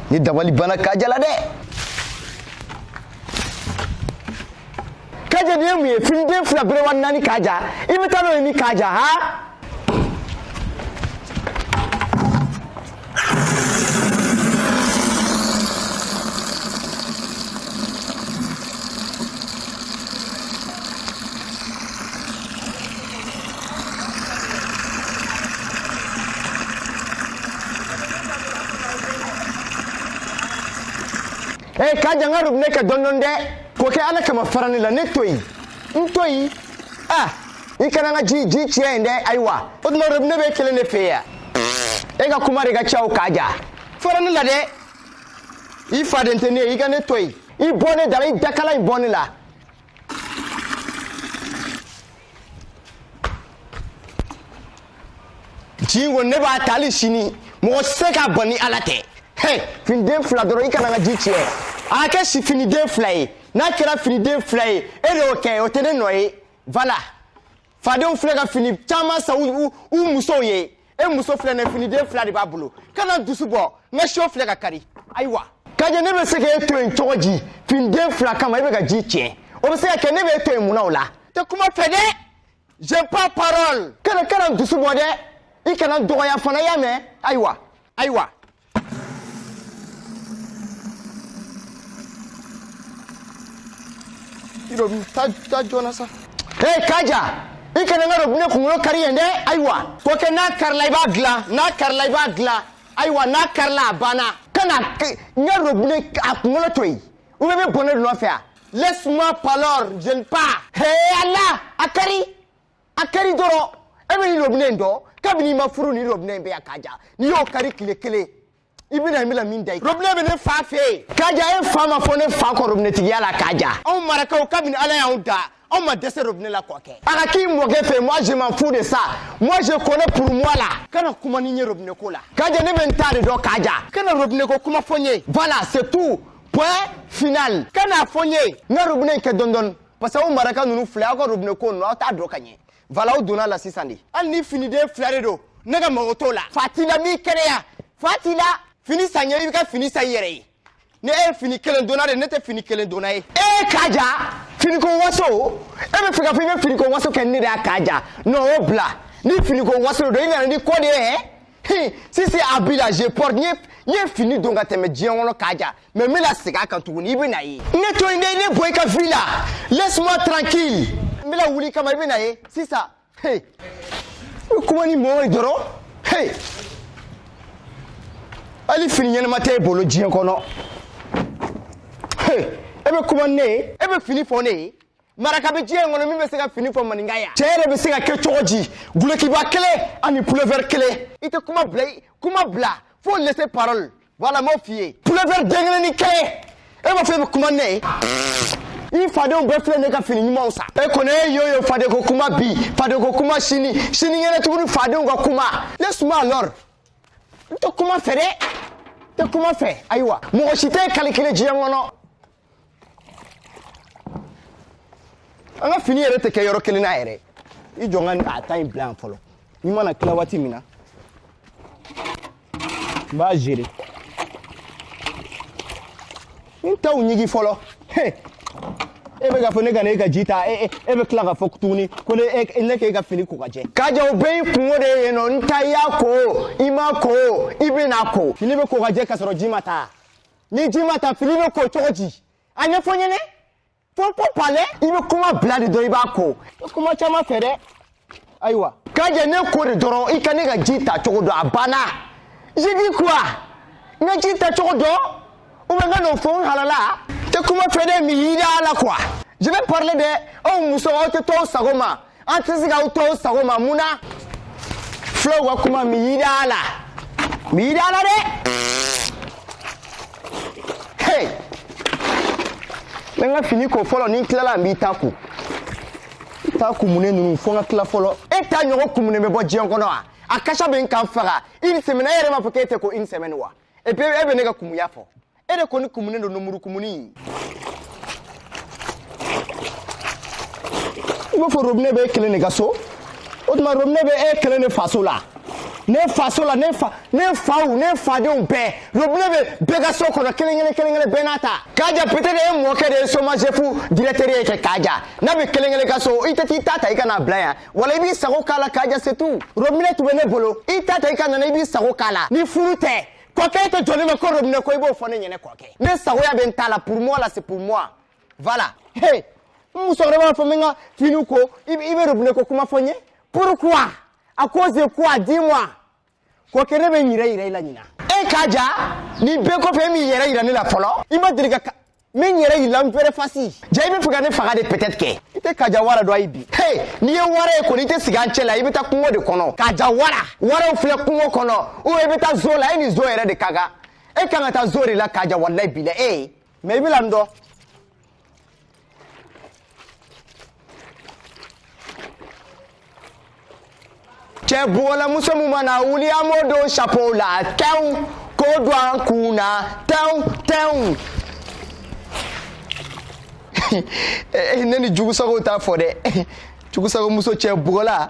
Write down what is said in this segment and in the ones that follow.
Ne dabali banna kaja la dɛ kaja de mun ye finiden fila berewa naani kaja i bɛ taa n'o ye min kaja ha ee kaja n ka robinɛ kɛ dɔɔni dɔɔni dɛ kɔkɛ ala kama fara ne la ne to yen n to yen a i kana n ka ji tiɲɛ yen dɛ ayiwa o tuma robinɛ b'e kelen de fɛ yan e ka kuma de ka ca o kaja fara ne la dɛ i faden tɛ ne ye i ka ne to yen i bɔ ne da la i dakala in bɔ ne la ji ko ne b'a ta hali sini mɔgɔ tɛ se k'a bɔ ni ala tɛ hɛ finiden fila dɔrɔn i kana n ka ji tiɲɛ a ka kɛ finiden fila ye n'a kɛra finiden fila ye e de y'o kɛ o tɛ ne nɔ ye voilà fadenw filɛ ka fini caman san u u musow ye e muso filɛ nin finiden fila de b'a bolo kana n dusu bɔ n ka siyo filɛ ka kari ayiwa kaja ne bɛ se k'e to yen cogo di finiden fila kama e bɛ ka ji tiɲɛ o bɛ se ka kɛ ne bɛ e to yen mun na o la n tɛ kuma fɛ dɛ j'aime pas parole kana n dusu bɔ dɛ i kana n dɔgɔya fana y'a mɛn ayiwa ayiwa I dɔ ta taa joona sa. Hey kaja! I kana n ka robinɛ kunkolo kari yen dɛ ayiwa kɔkɛ n'a karila i b'a dilan n'a karila i b'a dilan ayiwa n'a karila a banna kana k- n ka robinɛ a kunkolo to yen i bɛ bɔnɛ de nɔfɛ wa laisse-moi parole j'aime pas Hey Allah a kari a kari dɔrɔn e bɛ nin robinɛ in dɔn kabini i ma furu nin robinɛ in bɛ yan kaja n'i y'o kari tile kelen i bɛna i bɛna min da i robinɛ bɛ ne fa fɛ yen kaja e fa ma fɔ ne fa kɔ robinɛtigiya la kaja anw marakaw kabini ala y'anw da anw ma dɛsɛ robinɛ la kɔkɛ a ka k'i mɔkɛ fɛ moi je m'en fous de ça moi je connais pour moi là kana kuma ni n ye robinɛ ko la kaja ne bɛ n ta de dɔn kaja kana robinɛ ko kuma fɔ n ye voilà c'est tout point final kan'a fɔ n ye n ka robinɛ in kɛ dɔɔni dɔɔni parce que aw maraka ninnu filɛ aw ka robinɛ ko ninnu aw t'a dɔn ka ɲɛ voilà aw donna a la sisan de hali ni finiden fila de don ne ka mago t'o la fa t'i la mais kɛnɛya fa t'i la fini san n ye i bɛ ka fini san i yɛrɛ ye ne e ye fini kelen donna de ne tɛ fini kelen donna ye e k'a ja finiko waso e bɛ fɛ k'a fɔ i bɛ finiko waso kɛ ne de y'a k'a ja non o bila ni finiko waso de don i nana ni ko de ye hɛ si c'est habit là je porte n ye fini don ka tɛmɛ diɲɛ kɔnɔ k'a ja mais n bɛna segin a kan tuguni i bɛn'a ye ne to yen dɛ ne bɔ i ka vie la laisse moi tranquille n bɛna wuli i kama i bɛn'a ye sisan e bɛ kuma ni mɔgɔ ye dɔrɔn hey. hali fini ɲɛnama tɛ e bolo diɲɛ kɔnɔ hey. e bɛ kuma ni ne ye e bɛ fini fɔ ne ye maraka bɛ diɲɛ kɔnɔ min bɛ se ka fini fɔ maninka ye an cɛ yɛrɛ bɛ se ka kɛ cogo di dulokiba kelen ani pulɛfɛri kelen i tɛ kuma bila kuma bila fo laisser parole voilà n m'o f'i ye pulɛfɛri den kelen ni kelen e b'a fɔ e bɛ kuma ne ye i fadenw bɛɛ filɛ ne ka fini ɲumanw san e kɔni e yo yo fadeko kuma bi fadeko kuma sini sinikɛnɛ tuguni fadenw ka kuma ne suma alors n tɛ kuma fɛ dɛ n tɛ kuma fɛ ayiwa mɔgɔ si tɛ calculer diɲɛ kɔnɔ an ka fini yɛrɛ tɛ kɛ yɔrɔ kelen na yɛrɛ i jɔ n ka n ta in bila yan fɔlɔ n'i mana tila waati min na n b'a gɛrɛ n taw ɲigi fɔlɔ e bɛ k'a fɔ ne ka na e ka ji ta e bɛ tila k'a fɔ tuguni ko ne ne k'e ka fini ko ka jɛ ka jɛ o bɛɛ y'i kunko de ye yen non n ta i y'a ko i m'a ko i bɛn'a ko fini bɛ ko ka jɛ k'a sɔrɔ ji ma ta ni ji ma ta fini bɛ ko cogo di a ɲɛfɔ n ye ne fo ko palɛ i bɛ kuma bila de dɔrɔn i b'a ko kuma caman fɛ dɛ ayiwa ka jɛ ne ko de dɔrɔn i ka ne ka ji ta cogo dɔn a banna j'ai dit quoi n ka ji ta cogo dɔn ou bien n kan'o fɔ n halala tɛ kuma fɛ dɛ miiri a la quoi je vais parler de aw musow aw tɛ to aw sago ma an tɛ se k'aw to aw sago ma mun na fulaw ka kuma miiri a la miiri a la dɛ hey n bɛ n ka fini ko fɔlɔ ni n tilala n b'i ta ko n ta kumunen ninnu fo n ka tila fɔlɔ e ta ɲɔgɔn kumunen bɛ bɔ diɲɛ kɔnɔ wa a kasa bɛ ka n faga une semaine e yɛrɛ m'a fɔ k'e tɛ ko une semaine wa et puis e bɛ ne ka kumuya fɔ e de kɔni kumunen don lemuru kumuni i b'a fɔ robinɛ bɛ e kelen de ka so o tuma robinɛ bɛ e kelen de faso la ne faso la ne fa ne faw ne fadenw bɛɛ robinɛ bɛ bɛɛ ka so kɔnɔ kelen kelen kelen kelen bɛɛ n'a ta k'a ja peut-être e mɔkɛ de ye somagep directeur ye kɛ k'a ja n'a bɛ kelen kelen ka so i tɛ t'i ta ta i ka n'a bila yan wala i b'i sago k'a la k'a ja c'est tout robinɛ tun bɛ ne bolo i ta ta i ka nana i b'i sago k'a la ni furu tɛ kɔkɛ tɛ jɔlen bɛ ko robinɛ ko i b'o fɔ ne ɲɛ na kɔkɛ ne sagoya bɛ n ta la pour moi la c'est pour moi voilà he n musokɔrɔba b'a fɔ n bɛ n ka finiw ko i bɛ robinɛ ko kuma fɔ n ye pourquoi à cause de quoi dis moi kɔkɛ ne bɛ n yɛrɛ yira i la ɲinan e kaja nin bɛɛ kɔfɛ e m'i yɛrɛ yira ne la fɔlɔ i ma deli ka min yɛrɛ y'i la vraie face ja i b'a fɛ ka ne faga de peut-être que i tɛ kaja wara dɔn ayi bi he n'i ye wara ye kɔni i tɛ sigi an cɛ la i bɛ taa kungo de kɔnɔ kaja wara waraw filɛ kungo kɔnɔ ou i bɛ taa zoo la e ni zoo yɛrɛ de ka kan e kan ka taa zoo de la kaja walayi bilayi ee mais i bɛna n dɔn cɛ bugɔlamuso min mana wuli an b'o don sapow la tɛw k'o don an kun na tɛw tɛw ne ni jugusagow t'a fɔ dɛ jugusagomuso cɛ bugɔla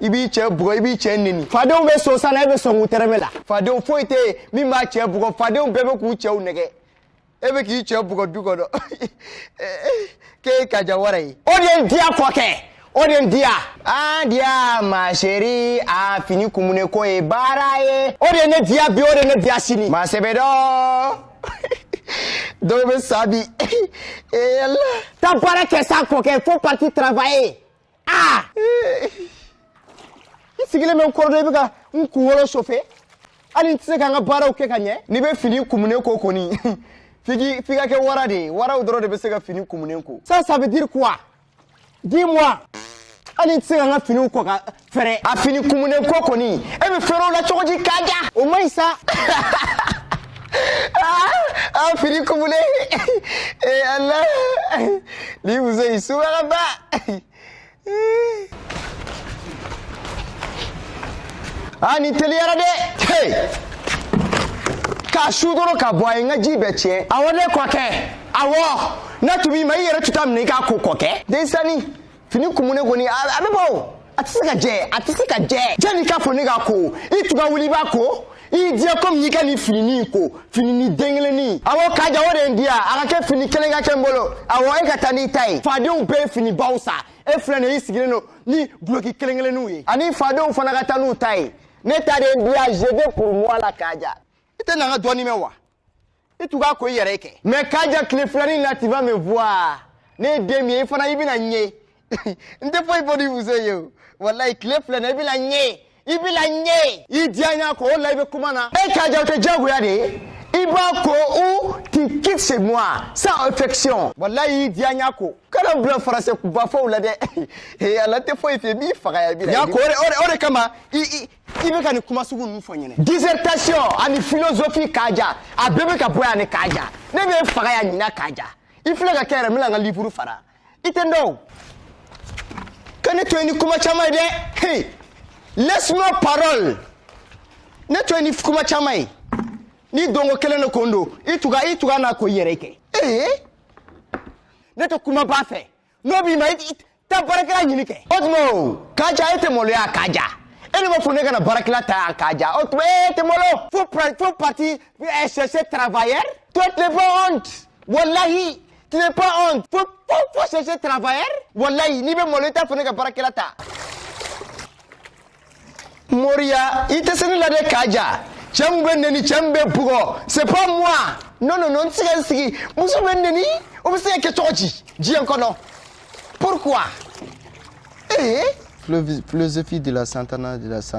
i b'i cɛ bugɔ i b'i cɛ neni fadenw bɛ sosa la e bɛ sɔn k'u tɛrɛmɛ la fadenw foyi tɛ yen min b'a cɛ bugɔ fadenw bɛɛ bɛ k'u cɛw nɛgɛn e bɛ k'i cɛ bugɔ du kɔnɔ k'e ye kaja wara ye o de ye n diya fɔ kɛ o de ye n diya an diya ma chérie a fini kumunen ko ye baara ye o de ye ne diya bi o de ye ne diya sini ma sɛbɛ don dɔw bɛ sa bi ee yala taa baara kɛ sa kɔkɛ faut partir travailler aa n sigilen bɛ n kɔrɔdɔ i bɛ ka n kunkolo chauffer hali n tɛ se ka n ka baaraw kɛ ka ɲɛ n'i bɛ fini kumunen ko kɔni f'i k'i f'i ka kɛ wara de ye waraw dɔrɔn de bɛ se ka fini kumunen ko ça ça veut dire quoi dis-moi hali n tɛ se ka n ka finiw ko ka fɛrɛ a fini kumunen ko kɔni e bɛ fɛrɛ o la cogo di kaja o man ɲi sa an fini kumulen ee ala ni muso in subaraba a ni teliyara dɛ k'a su dɔrɔn ka bɔ a ye n ka ji bɛɛ tiɲɛ awɔ ne kɔkɛ awɔ ne tun b'i ma i yɛrɛ tun t'a minɛ i k'a ko kɔkɛ denmisɛnnin fini kumunen kɔni a bɛ bɔ o a tɛ se ka jɛ a tɛ se ka jɛ janni i k'a fɔ ne k'a ko i tun ka wuli i b'a ko i diya komi n'i ka nin finini in ko finini den kelenni awɔ kaja o de ye n diya a ka kɛ fini kelen ka kɛ n bolo awɔ e ka taa n'i ta ye fadenw bɛɛ ye fini baw sa e filɛ nin ye i sigilen don ni duloki kelen kelenninw ye ani fadenw fana ka taa n'u ta ye ne ta de ye n diya je veux pour moi la kaja i tɛ na n ka dɔɔni mɛn wa i tun k'a ko i yɛrɛ ye kɛ mais kaja tile filanin la tu vas me voir ne ye den min ye i fana i bɛna n ye n tɛ foyi fɔ nin muso ye o walayi tile fila na i bɛna n ye i bɛna n ye i diya n y'a ko o la i bɛ kuma na e kaja o tɛ diyagoya de ye i b'a ko u ti kisse moi sans affection walayi i diya n y'a ko kana bila faransɛ bafɔw la dɛ ala tɛ foyi fɛ i b'i faga ya bi la y'a ko o de kama i i bɛ ka nin kuma sugu ninnu fɔ n ye ni dissertation ani philosophie kaja a bɛɛ bɛ ka bɔ yan ni kaja ne bɛ faga yan ɲinan kaja i filɛ ka kɛ yɛrɛ n bɛna n ka livre fara i tɛ n dɔn o ka ne to yen ni kuma caman ye dɛ hey laisse moi parole ne to yen ni kuma caman ye ni donko kelen de ko n don i tuga i tuga n'a ko i yɛrɛ kɛ ee ne tɛ kumaba fɛ n'o b'i ma i taa baarakɛla ɲini kɛ o tuma o kaja e tɛ maloya kaja e ne ma fɔ ne kana baarakɛla ta yan kaja o tuma e tɛ malo faut pra- faut partir eh, chercher travailleur toi tu n'es pas honte walahi tu n'es pas honte faut faut faut chercher travailleur walahi n'i bɛ malo i t'a fɔ ne ka baarakɛla ta moriya i tɛ se ne la dɛ kaja cɛ min bɛ neni cɛ min bɛ bugɔ c'est pas moi non non non n tɛ se ka n sigi muso bɛ n neni o bɛ se ka kɛ cogo di diɲɛ kɔnɔ pourquoi ee eh? philosophie de la santana de la santana